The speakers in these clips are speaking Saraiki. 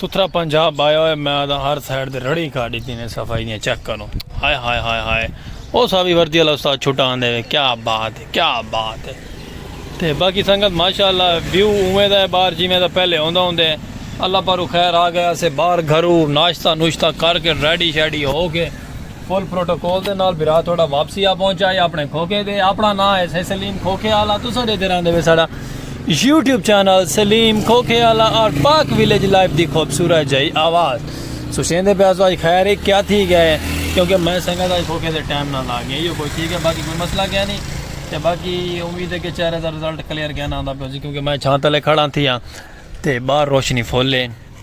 ستھرا پنجاب آیا ہوئے میں آدھا ہر سائیڈ دے رڑی کھا ڈیتی نے صفائی دیاں چیک کرو ہائے ہائے ہائے ہائے او ساوی وردی والا استاد چھٹا آندے وے کیا بات ہے کیا بات ہے تے باقی سنگت ماشاءاللہ ویو اوے دا ہے باہر جی میں دا پہلے ہوندا ہوندے اللہ پارو خیر آ گیا سے باہر گھرو ناشتہ نوشتہ کر کے ریڈی شیڈی ہو کے فل پروٹوکول دے نال بھرا تہاڈا واپسی آ پہنچا ہے اپنے کھوکھے دے اپنا ناں ہے سہ سلیم کھوکھے آلا تساں ڈیدھے رہندے وے ساڈا یوٹیوب چینل سلیم کھوکھے آلا اور پاک ویلیج لائف دی خوبصورت جائی آواز سوچیندے پہ آسو آج خیر ہے کیا تھی گئے کیونکہ میں سنگت آج کھوکھے دے ٹائم نہ لا گیا یہ کوئی تھی گئے باقی کوئی مسئلہ کیا نہیں تے باقی امید ہے کہ چہرے دا رزلٹ کلیئر کہنا آندا پہ کیونکہ میں چھانتلے کھڑا تھی ہاں تے باہر روشنی فل ہے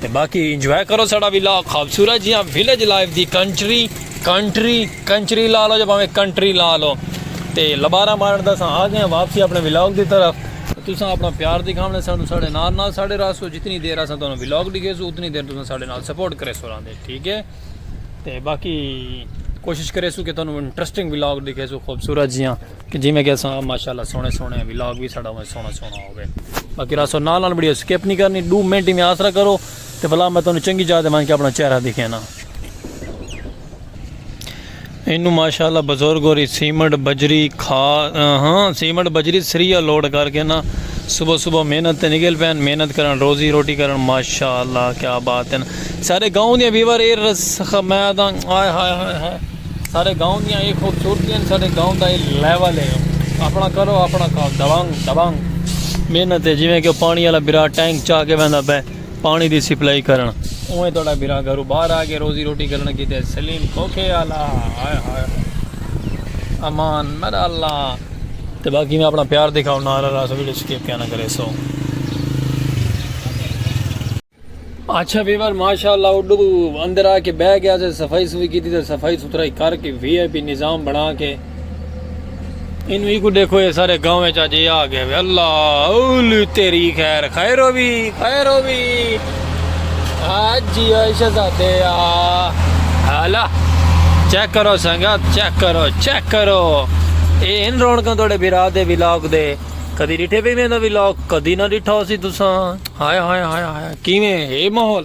تے باقی انجوائے کرو ساڑا ویلا خوبصورت جیاں ویلیج لائف دی کنٹری کنٹری کنچری لا لو جب ہمیں کنٹری لا لو تے لبارہ مارن دا ساں آ گئے ہیں واپسی اپنے ویلاگ دی طرف تو ساں اپنا پیار دی کھامنے ساں ساڑے نال نال ساڑے رہا سو جتنی دیر آسان تو انہوں ویلاگ دی گئے سو اتنی دیر تو ساں ساڑے نال سپورٹ کرے سو رہا دے ٹھیک ہے تے باقی کوشش کرے سو کہ تو انہوں انٹرسٹنگ ویلاگ دی گئے سو خوبصورت جیاں جیویں کہ اساں ماشاءاللہ سونے سونے ولاگ بھی ساڈا اویں سونا سونا ہوے باقی راسو نال نال ویڈیو سکپ نہیں کرنی دو منٹ میں آسرا کرو تے بلا میں تانوں چنگی جاہ تے مان کے اپنا چہرہ دکھینا اینو ماشاءاللہ بزرگ ہوری سیمنٹ بجری کھا ہاں سیمنٹ بجری سریا لوڈ کر کے نا صبح صبح محنت تے نکل پین محنت کرن روزی روٹی کرن ماشاءاللہ کیا بات ہے سارے گاؤں دے ویور اے رس میں آدھا ہائے ہائے ہائے ہائے ساڈے گاؤں دیاں اے خوبصورتی ہن ساڈے گاؤں دا اے لیول ہے اپنا کرو اپنا کھاؤ دبانگ دبانگ محنت ہے جویں کہ پانی والا برا ٹینک چا کے ویندا پے پانی دی سپلائی کرن اویں تہاڈا برا گھرو باہر آ کے روزی روٹی کرن کیتے سلیم کھوکھے والا ہائے ہائے امان میرا اللہ تے باقی میں اپنا پیار دکھاؤ نارا راس ویڈیو سکپ کیا نہ کرے سو اچھا ویور ماشاءاللہ اڈو اندر آ کے بہ گیا سے صفائی سوئی کیتی تے صفائی ستھرائی کر کے وی آئی پی نظام بنا کے اینو ایکو دیکھو اے سارے گاؤں وچ اج اے آ گئے وے اللہ اولی تیری خیر خیر ہووی خیر ہووی جی او شہزادے آ ہالا چیک کرو سنگت چیک کرو چیک کرو اے ان رونکاں توڑے بھرا دے ولاگ دے کدی ڈٹھے پہ ایویں دا ولاگ کدی نہ ڈٹھا ہوسی تساں ہائے ہائے ہائے ہائے کیویں ہے ماحول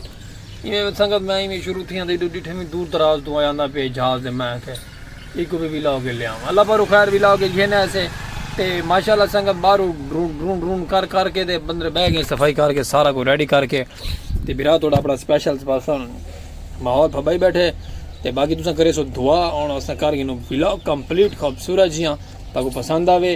ایویں سنگت میں ایویں شروع تھیاں تے ڈٹھے میں دور دراز تو آیا نہ پہ جہاز دے میں کہ ایک بھی ولاگ لیا اللہ پارو خیر ولاگ گھن ایسے تے ماشاءاللہ سنگت بارو ڈرون ڈرون ڈرون کر کر کے تے بندر بہ گئے صفائی کر کے سارا کو ریڈی کر کے تے برا توڑا اپنا سپیشل پرسن ماحول پھبائی بیٹھے تے باقی تساں کرے سو دعا اور اساں کر گنو ولاگ کمپلیٹ خوبصورت جیاں تاکو پسند آوے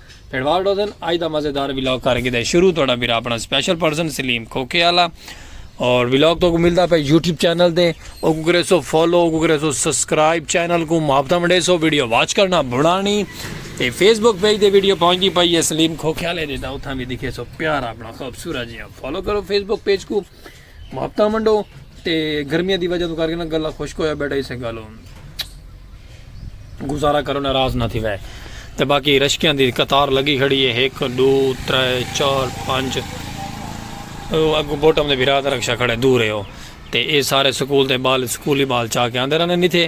پھیڑوال ڈوزن اج دا مزیدار ولاگ کر گدے شروع تہاڈا بھرا اپنا سپیشل پرسن سلیم کھوکھے والا اور ولاگ تو کو ملدا پے یوٹیوب چینل دے او کو کرے سو فالو او کو کرے سو سبسکرائب چینل کو محبت ونڈے سو ویڈیو واچ کرنا بھڑانی تے فیس بک پیج دے ویڈیو پہنچدی پئی ہے سلیم کھوکھے والے دے تا اتھاں بھی دکھے سو پیار اپنا خوبصورت جیاں فالو کرو فیس بک پیج کو محبتاں ونڈو تے گرمیاں دی وجہ تو کر کے نا گلا خشک ہویا بیٹھا اسے گالو گزارا کرو ناراض نہ تھی وے تے باقی رشکیاں دی قطار لگی کھڑی ہے ایک دو ترے چار پانچ او اگو بوٹم دے بھرا تے رکشا کھڑے دور ہے او تے اے سارے سکول دے بال سکولی بال چا کے آندے رہنے نہیں تھے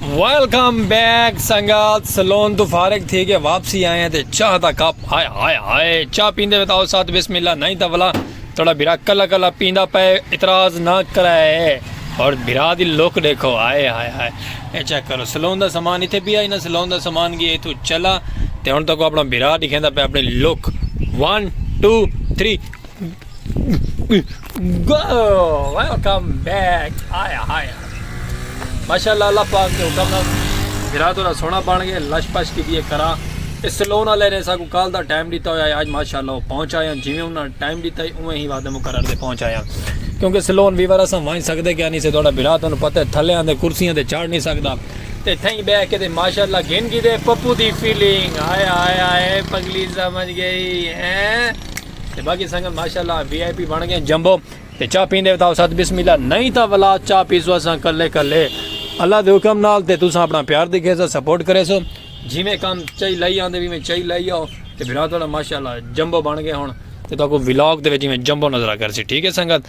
ویلکم بیک سنگات سلون تو فارغ تھی کے واپسی آئے ہیں تے چاہ دا کپ آئے آئے آئے چاہ پیندے بتاؤ ساتھ بسم اللہ نہیں تا بلا تھوڑا بھرا کلا کلا پیندہ پے اتراز نہ کرائے اور بھرا دی لوک دیکھو آئے آئے آئے اے چیک کرو سلون دا سامان ہی تھے بھی آئی نا سلون دا سامان گیا تو چلا تے ہون تکو اپنا بھرا دیکھیں دا پے اپنی لوک one two three welcome back آیا آیا ماشاء اللہ اللہ پاک کے حکم نال گرا تو سونا بن گئے لش پش کی دیے کرا اس سلون والے نے ساکو کال دا ٹائم دیتا ہوا ہے آج ماشاء اللہ وہ پہنچ آیا جی میں انہوں نے ٹائم دیتا ہے اوہ ہی وعدہ مقرر دے پہنچ آیا کیونکہ سلون ویور اسا وائن سکتے کہ نہیں سے تھوڑا بھرا تو پتہ ہے تھلے آندے کرسیاں دے چڑھ نہیں سکتا تے تھیں بہ کے تے ماشاءاللہ گن کی دے پپو دی فیلنگ آیا آیا اے پگلی سمجھ گئی ہیں تے باقی سنگت ماشاءاللہ وی آئی پی بن گئے جمبو تے چاہ پیندے بتاؤ ساتھ بسم اللہ نہیں تا ولا چاہ پیسو اساں کلے کلے اللہ دے حکم نال تے تساں اپنا پیار دکھے سو سپورٹ کرے سو جی میں کام چاہی لائی آندے بھی میں چاہی لائی آؤ تے برا تھوڑا ماشاءاللہ جمبو بن گئے ہن تے تو کو ولاگ دے جی میں جمبو نظرہ کر سی ٹھیک ہے سنگت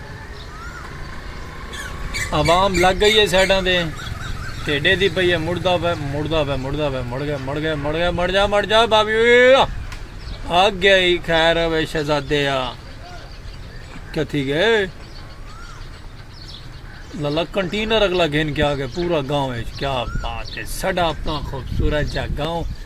عوام لگ گئی ہے سائیڈاں دے تے ڈیدی پئی ہے مڑدا پے مڑدا پے مڑدا پے مڑ گئے مڑ گئے مڑ گئے مڑ جا مڑ جا بابی آگ گئی خیر ہوے شہزادے آ کتھی گئے لالا کنٹینر اگلا گھن کے آ گئے پورا گاؤں ہے کیا بات ہے سڈا اپنا خوبصورت جا گاؤں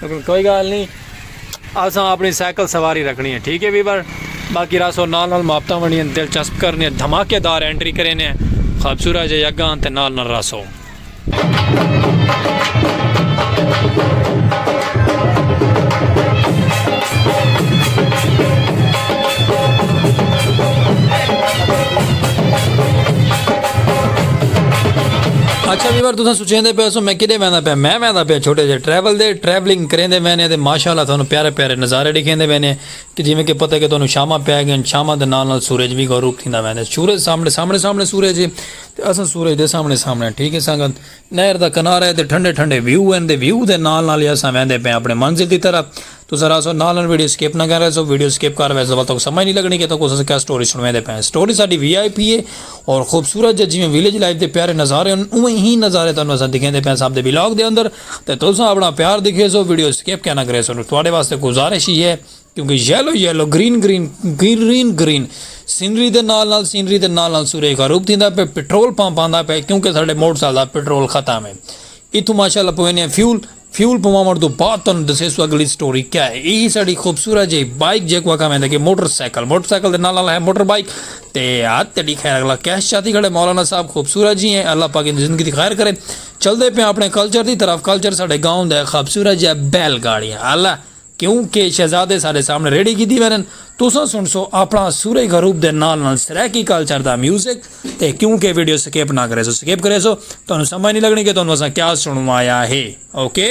لیکن کوئی گال نی اساں اپنی سائیکل سواری رکھنی ہے ٹھیک ہے ویور باقی راسو نال نال محبتاں ونڈیاں دلچسپ کرنے ہیں دھماکے دار انٹری کرینے ہیں خوبصورت جے یگاں تے نال نال راسو اچھا ویور تساں سوچیندے پے سو میں کدے ویندا پیا میں ویندا پیا چھوٹے جے ٹریول دے ٹریولنگ کریندے وینے تے ماشاءاللہ تھانو پیارے پیارے نظارے ڈیکھیندے وینے کہ جویں کہ پتہ کہ تانوں شاماں پے گئین شاماں دے نال نال سورج وی غروب تھیندا ویندے سورج سامنے سامنے سامنے سورج ہے تے اساں سورج دے سامنے سامنے ٹھیک ہے سنگت نہر دا کنارہ ہے تے ٹھنڈے ٹھنڈے ویو ہن تے ویو دے نال نال ہی اساں ویندے پئے آں اپنی منزل دی طرف۔ تساں رہسو نال نال ویڈیو سکپ نہ کر ویسو۔ ویڈیو سکپ کر ویسو ول تہاکوں سمجھ نی لگنی کہ تہاکوں اساں کیا سٹوری سنڑویندے پئے آں۔ سٹوری ساڈی وی آئی پی ہے اور خوبصورت جے جیویں ویلیج لائف دے پیارے نظارے ہن اونویں ہی نظارے تہاکوں اساں دکھیندے پئے آں اساں دے ولاگ دے اندر تے تساں اپنا پیار دکھیسو ویڈیو سکپ کیا نہ کریسو۔ تہاڈے واسطے گزارش ہی ہے۔ کیونکہ yellow yellow green green green green scenery دے نال نال سینری دے نال نال سورج غروب تھیندا پہ پٹرول پمپ آندا پہ کیونکہ ساڈے موٹر سائیکل دا پٹرول ختم ہے اتھوں ماشاءاللہ پوینے ہیں فیول فیول پواون تو بعد تن دسے سو اگلی سٹوری کیا ہے یہی ساڈی خوبصورت جی بائک جے کو کم ہے کہ موٹر سائیکل موٹر سائیکل دے نال نال ہے موٹر بائک تے ہاتھ تیڈی خیر اگلا کیش چاتی کھڑے مولانا صاحب خوبصورت جی ہیں اللہ پاک ان زندگی دی خیر کرے چل دے پہ اپنے کلچر دی طرف کلچر ساڈے گاؤں دے خوبصورت جی بیل گاڑیاں اللہ کیوں کہ شہزادے ساڈے سامنے ریڑھی گھدی ویندن۔ تساں سنڑسو اپنڑا سورئی غروب دے نال نال سرائیکی کلچر دا میوزک تے کیوں کہ ویڈیو سکپ نہ کریسو سکپ کریسو تہانوں سمجھ نی لگنڑی کہ تہانوں اساں کیا سنڑوایا ہے اوکے۔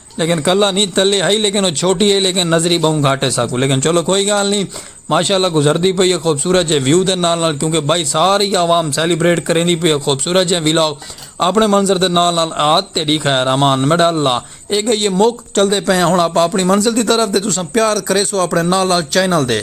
لیکن کلا نی تلے ہئی لیکن او چھوٹی ہئی لیکن نظری بہوں گھٹ ہے ساکوں لیکن چلو کوئی گال نی ماشاءاللہ گزردی پئی ہے خوبصورت جے ویو دے نال نال کیونکہ بھائی ساری عوام سیلیبریٹ کریندی پئی ہے خوبصورت جے ولاگ اپنے منظر دے نال نال آت تیڈی خیر امان میڈا اللہ اے گئی ہے مک چلدے پئے ہاں ہن آپاں اپنی منزل دی طرف تے تساں پیار کریسو اپنے نال نال چینل دے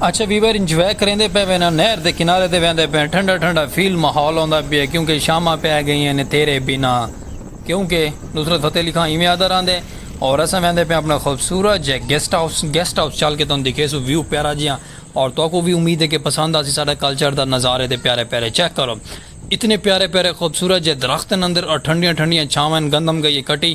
اچھے ویور انجوائے کریندے پئے وین ہن نہر دے کنارے تے ویندے پئے ہن ٹھنڈا ٹھنڈا فیل ماحول ہوندا پئے کیونکہ شاماں پئے گئیں ہن تیرے بنا کیونکہ نصرت فتح علی خان ایویں آہدا راہندے اور اساں ویندے پئے ہن اپنا خوبصورت جئے گیسٹ ہاؤس گیسٹ ہاؤس چل کے تہاکوں دکھیسوں ویو پیارا جیہاں اور تہاکوں وی امید ہے کہ پسند آسی ساڈا کلچر دا نظارے تے پیارے پیارے چیک کرو اتنے پیارے پیارے خوبصورت جئے درخت ہن اندر اور ٹھنڈیاں ٹھنڈیاں چھاواں ہن گندم گئیے کٹی